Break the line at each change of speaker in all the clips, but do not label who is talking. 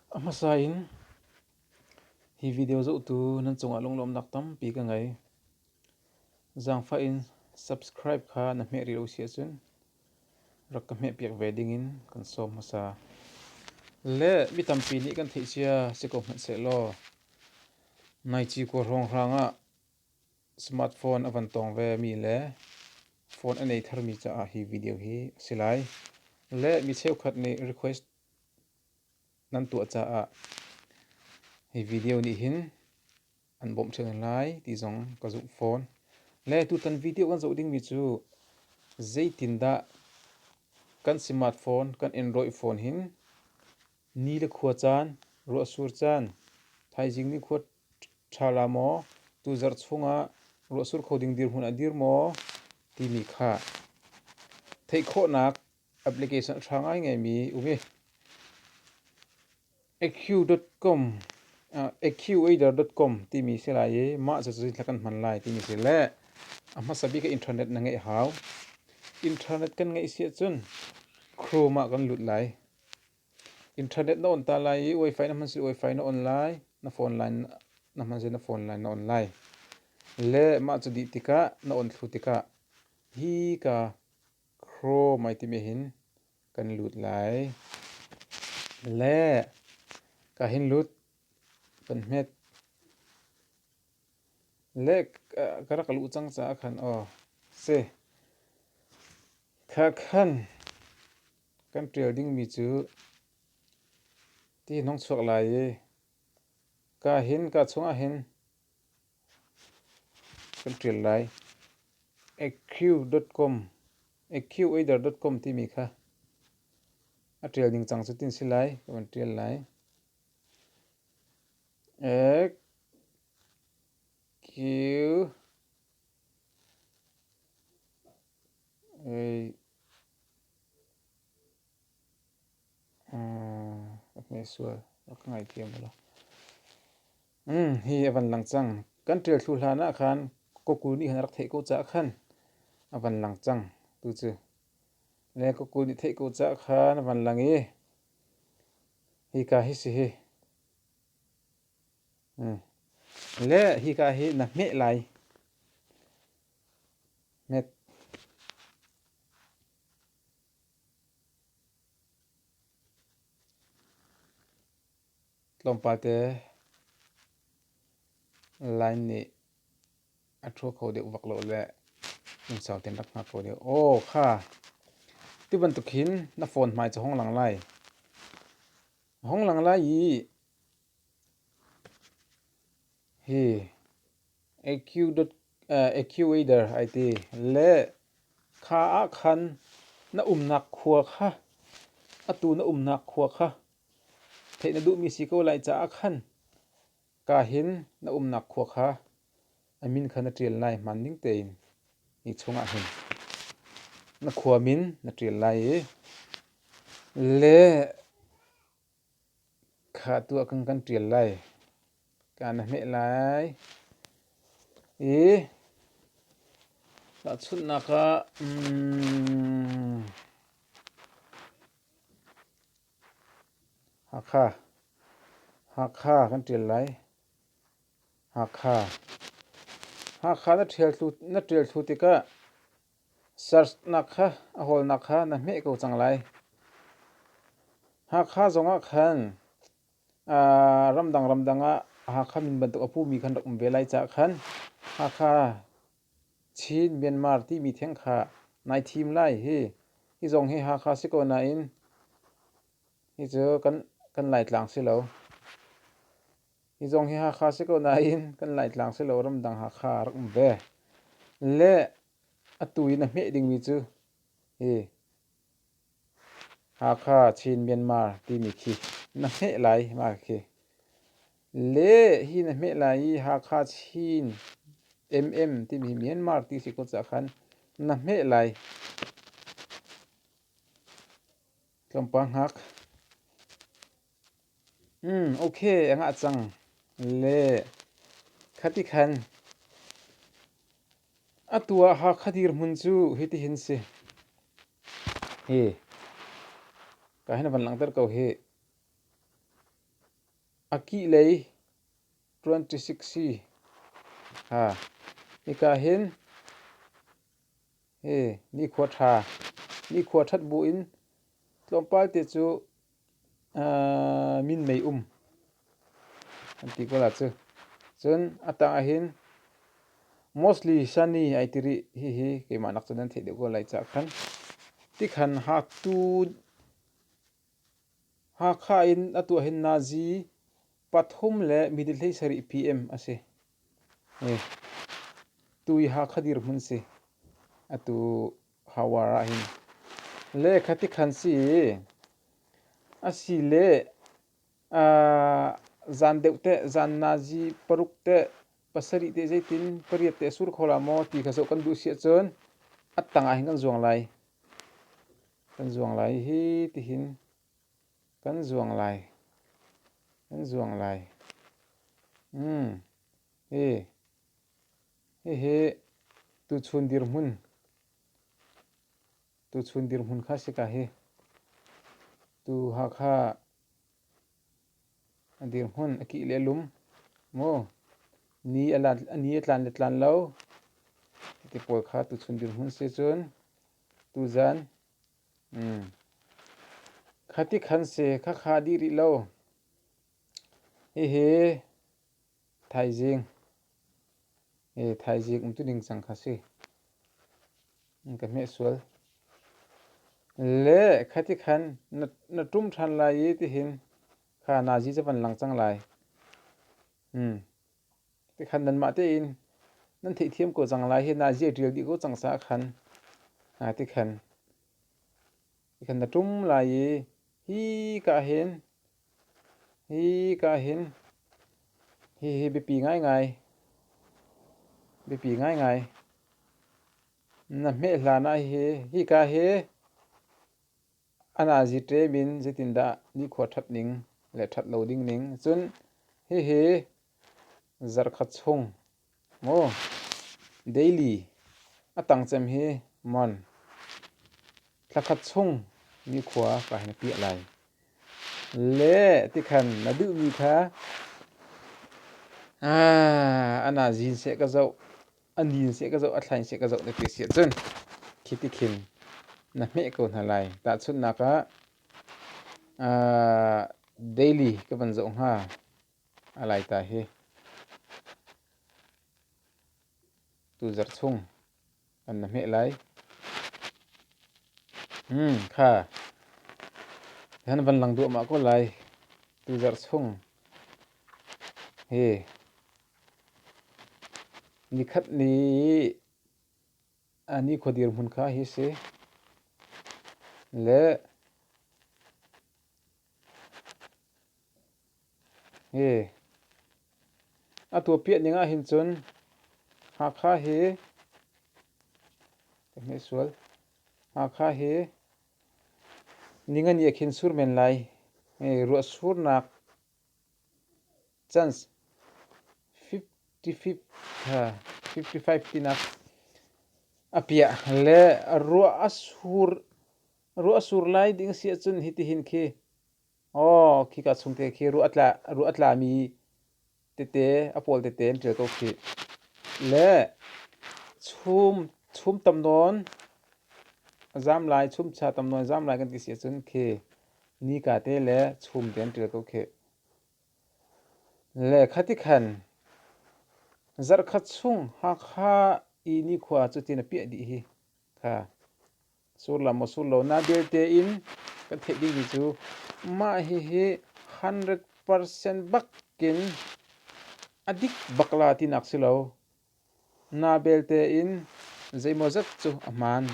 A hmasa in hi video zohtu nan cungah lunglawmhnak tampi ka ngei. Zaangfah in subscribe kha na hmeh rih lo si ahcun rak ka hmehpiak ve dingin kan sawm hmasa. Le mi tampi nih kan theih cia si ko hmanhsehlaw nai ci kuar hrawnghrang ah Smartphone a van tawng vemi le phone an ei tharmi caah hi video hi a si lai. Le mi cheukhat nih request nan tuah caah hi video nih hin an bawmh ṭhan lai ti zong ka zumh fawn. Le tutan video kan zoh dingmi cu zeitindah kan smartphone kan Android phone hin ni le khua caan, ruahsur caan, thaizing nikhua ṭha la maw, tu zarh chungah ruahsur kho ding dirhmun a dir maw timi kha theih khawhnak application hrang ai ngaimi um i eq.com eqader.com timi si lai i mah cu zeitluk kan hman lai timi si le a hmasa bik internet na ngeih hau. Internet kan ngeih si ahcun Chrome ah kan lut lai. Internet na on ta lai i wifi na hman si wifi na on lai, na phone line na hman si na phone line na on lai. Le mah cu dih tikah na on thlu tikah hi ka Chrome ai timi hin kan lut lai. Le ka hin lut kan hmet. Le ka rak luh cang caah khan aw si. Kha khan. Kan ṭial dingmi cu ti hnawng chuak lai i ka hin ka chungah hin kan ṭial lai. EQ.com EQ-Adder.com timi kha a ṭial ningcang cu tin si lai ka van ṭial lai. EQ Hi a van lang cang. Kan ṭial thlu hlan ah khan kokul nih khan a rak theih ko caah khan a van lang cang. Tucu. Le kokul nih theih ko caah khan a van lang i hika hi si hi. Le hika hi na hmeh lai. Hnek. Tlawmpalte line nih a ṭhu kho deuh vak lo le lungsau tein rak hngak kho deuh. Aw kha, ti bantuk hin na phone hmai cu hong lang lai. Hong lang lai i, hi Ecuador ai ti. Le kha ah khan na umnak khua kha, atu na umnak khua kha theih na duhmi si ko lai caah khan ka hin na umnak khua kha a min kha na ṭial lai hmaan ding tein hi chungah hin na khua min na ṭial lai i le Kha tuah kan kan ṭial lai. Kaa na hmeh lai. I tahchunhnak ah mm, Hakha, Hakha kan ṭial lai. Hakha. Hakha na ṭial thlu, na ṭial thlu tikah Searchnak kha a hawlnak kha na hmeh ko cang lai. Hakha zongah khan uh, ramdang ramdang ah Hakha min bantuk a pumi kan rak um ve lai caah khan Hakha, Chin, Myanmar timi theng kha nai thim lai hi. Hi zong hi Hakha si ko nain hi cu kan, kan Laitlang si lo. Hi zong hi Hakha si ko nain kan Laitlang si lo ramdang Hakha a rak um ve. Le atu in a hmeh dingmi cu hi Hakha, Chin, Myanmar timi khi na hmeh lai mah khi. Le hi na hmeh lai i Hakha, Chin, MM timi hi Myanmar ti si ko caah khan na hmeh lai. Tlawmpal hngak. Ok a ngah cang le khati khan atu ah Hakha dirhmun cu hitihin si hi ka hin a van langhter ko hi a kih lei twenty six hi ha hika hin hi nikhua ṭha nikhua ṭhat bu in tlawmpal te cu minmei um an ti ko la cu. Cun a tang ahhin mostly sunny ai ti rih hihi keimah nak cun an theih deuh ko lai caah khan. Tikhan haktu Hakha in atu ahhin nazi pathum le middle hlei sarih PM a si. Tu hi Hakha dirhmun si. Atu Khaoar ah hin lehkha tikhan si i asile zan deuh teh zan nazi paruk teh pasarih teh zeitin pariat teh a sur kho la maw ti kha zoh kan duh si ahcun a tang ah hin kan zuang lai. Kan zuang lai hi tihin kan zuang lai. Kan zuang lai. Hi. Hihi tuchun dirhmun, tuchun dirhmun kha si ka hi tu Hakha dirhmun a kih le lum maw ni a lan ni a tlan le tlan lo ti pawl kha tuchun dirhmun si cun tuzan um khati khan si khakha dih rih lo hihi Thaizing ee thaizing um tu ding cang kha si. Ka hmeh sual. Le khati khan na tum than lai i tihin kha nazi cha van lang cang lai. Hmm. Ti khan nan mah te in nan theih thiam ko cang lai hi nazi a ṭial dih ko cang sa khan. Ha ti khan. Ti khan na tum lai i hi ka hin Hika hin hihi biapi ngaingai. Biapi ngaingai. Na hmeh hlan ah hi hika hi a nazi ṭem in zeitindah nikhua ṭhat ning le ṭhat lo ding ning cun hihi zarh khat chung Maw Daily, a tangcem hi mon, thlakhat chung nikhua ka hin piah lai. Le ti khan na duhmi kha ana zin seh ka zoh, a nin seh ka zoh, a thlain seh ka zoh ti si ahcun khiti khin na hmeh ko hna lai. Tahchunhnak ah Daily ka van zoh hnga. A laita hi tuzarh chung kan na hmeh lai. Hmm kha han van lang duah mah ko lai tuzarh chung hi nikhat ni a ni khodir hmun kha hi si le A tuahpiah ning ahhin cun Hakha hi Hakha hi Ningani a khin sur men lai. Ruahsurnak chance fifty-five tinak a piah le ruah a sur lai ding si ahcun hitihin khi Aw, khika chungte khi ruah a tlami tete, a pawl tete an ṭial ko khih. Le chum tam nawn zamlai, chumcha tam nawn zamlai kan ti si ahcun khi nika te le chum te an ṭial ko khih. Le khati khan zarhkhat chung Hakha i nikhua cutin a piah dih hi kha. Sullam a sul lonak belte in kan theih dingmi cu mah hihi 100% bakin a dik bak la tinak si lo. Na belte in zeimawzat cu a hmaan.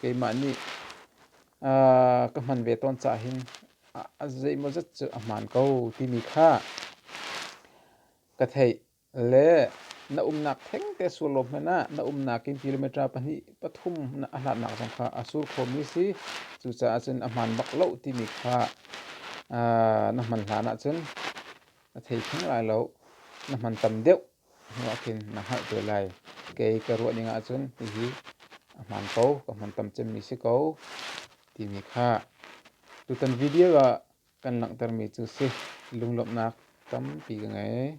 Keimah nih uh, ka hman ve tawn ca hin a zeimawzat cu a hmaan ko timi kha ka theih. Le na umnak thengte sur law hmanh ah na umnak in kilometer pahnih pathum na a hlatnak zong kha a sur khomi si. Cucaah cun a hmaan bak loh timi kha na hman hlan ahcun na thei theng lai lo. Na hman tam deuh hnuah khin na hngalh te lai. Kei ka ruah ning ahcun hihi a hmaan ko, ka hman tam cemmi si ko timi kha. Tutan video ah Kan langhtermi cu si. Lunglawmhnak tampi ka ngei.